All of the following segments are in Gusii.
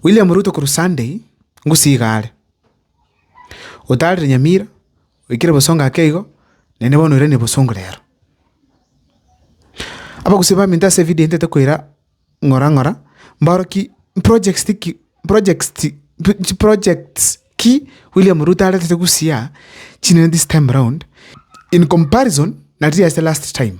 William Ruto korwa Sunday, Gusii iga are. Otaarire Nyamira, oikire boso ngake igo, naende bono oiranie bosongo reero. Abagusii baminto ase evideo intete koira ng'ora ng'ora mbaro ki mprojects ti ki mprojects ti chiprojects ki William Ruto aretete Gusii aa chinene this time round in comparison na riria ase last time.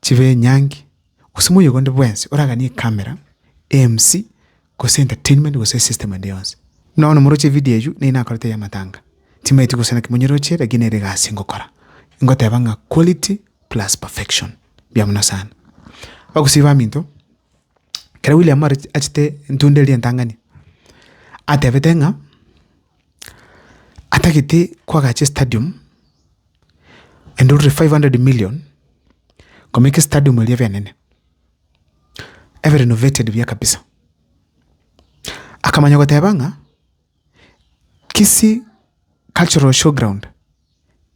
chibe enyangi, gose moyega onde bwensi oraganie ekamera, eMC, gose entertainment gose esystem ende yonsi. Buna bono moroche evideo eywo, neyio nakorete ya amatanga, timaeti gose naki monyeroche lakini nere egasi ngokora, ngoteba ng'a quality plus perfection, mbuya mono sana. Abagusii baminto, ekero William are achete entunda eria entang'ani, atebete ng'a atagete koagacha estadium. endururi five hundred million komeka estadium eria ebe enene, ebe renovated buya kabisa. Akamanya goteba ng'a Kisii cultural show ground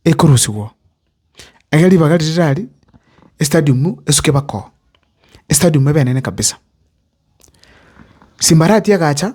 ekorusigwa oo, egere ribaga riria rire aria estadium esuke mpaka oo, estadium ebe enene kabisa. Simbarati egacha.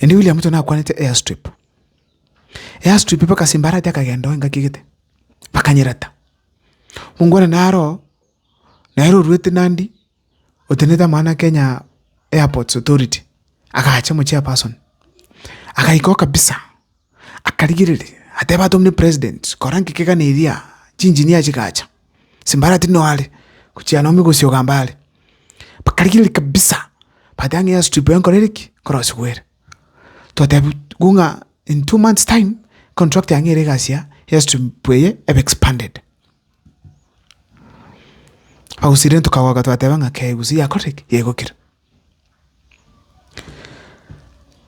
Erio William Ruto nakwanete airstrip, airstrip mpaka simba arate akagenda oo engaki egete, bakanyerata. Mongwana naro oo, nere oruete Nandi, otenenete amang'ana a Kenya Airports Authority, agacha omochairperson, agaika oo kabisa. akarigereria, ateba atomire president, kora nki kegane eria, chinjinia chigacha, simbara tiri noare, gochia nonya gosioga mbare, bakarigereria kabisa, bateba ng'a airstrip eye nkorere ki? Nkorosie gwere. Twatebi gu ng'a in two months time, contract yang'e ere egasi ya airstrip eye ebe expanded. Bagosiria tokagoka twateba ng'a kei gose yakorire ki? Yaigokire.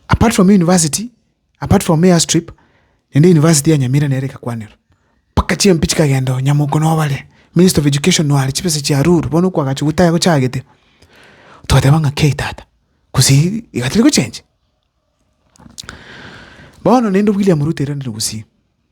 Apart from university. Apart from air strip, naende university ya Nyamira nere egakwanera. Mpaka chimpe chikagenda oo Nyamoko noba are, minister of education noare, chibesa chia ruru bono okwagacha gotaya gochagete. Twateba ng'a kei tata, gosii iga tari gochenja. Bono naende William Ruto erinde gosii.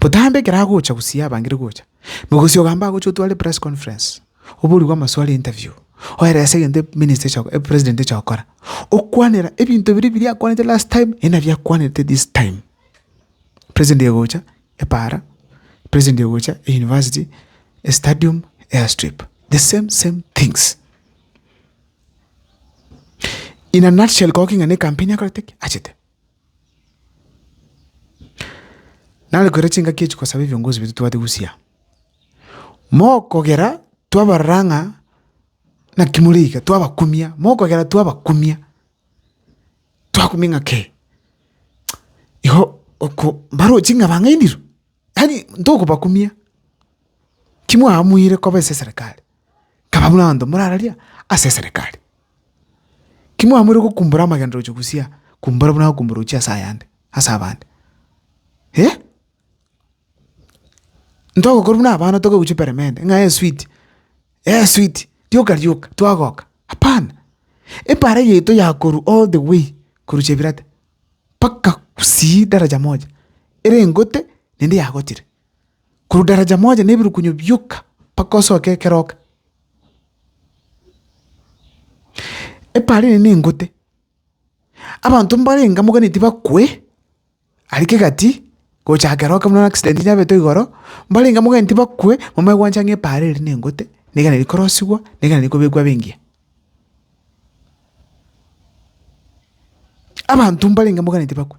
Botambe ekero agocha gusii abangire gocha, mogosi ogamba agocha otware press conference, oborigwe amaswali interview, oerese egento e minister echa e president echa gokora, okwanera ebinto biria biria akwanete last time naende nabio akwanete this time. President egocha epaara, president egocha euniversity, estadium, airstrip, the same same things. In a nutshell koba king'ana ecampaign akorete ki? Achete. Nare koira chingaki echi kosaba ebiongozi baito tobwate gusya, mokogera twabarora ng'a naki more iga twabakumia, mokogera twabakumia, twakumia ng'a kei igo oko mbarochi ng'a bang'ainire, yaani ntokobakumia, ki mwaamweire koba ase eserekari. Nkaba buna abanto morararia ase eserekari. Ki mwamoire gokumbora amagena roche gosia kumbora buna agokumbora ochia ase ayande, ase abande. Eh! Ntogokora buna abana tokoeguchia peremende ng'a esweet, esweet, rioka rioka twagoka, hapana. Ebare yaito yakorwa all the way korwa Chebirata mpaka gusii daraja moja, ere engote naende yagotire. korwa daraja moja na ebirukunyo bioka mpaka osoke ekeroka. Epaara eye nengote, abanto mbarenge moganeti bakwe aria kegati gocha keroka buna accident yabete igoro, mbarenge moganeti bakwe momanye gwancha ng'a epaara eri nengote, niga neri korosigwa, niga neri kobekwa abe engiya. Abanto mbarenge moganeti bakwe.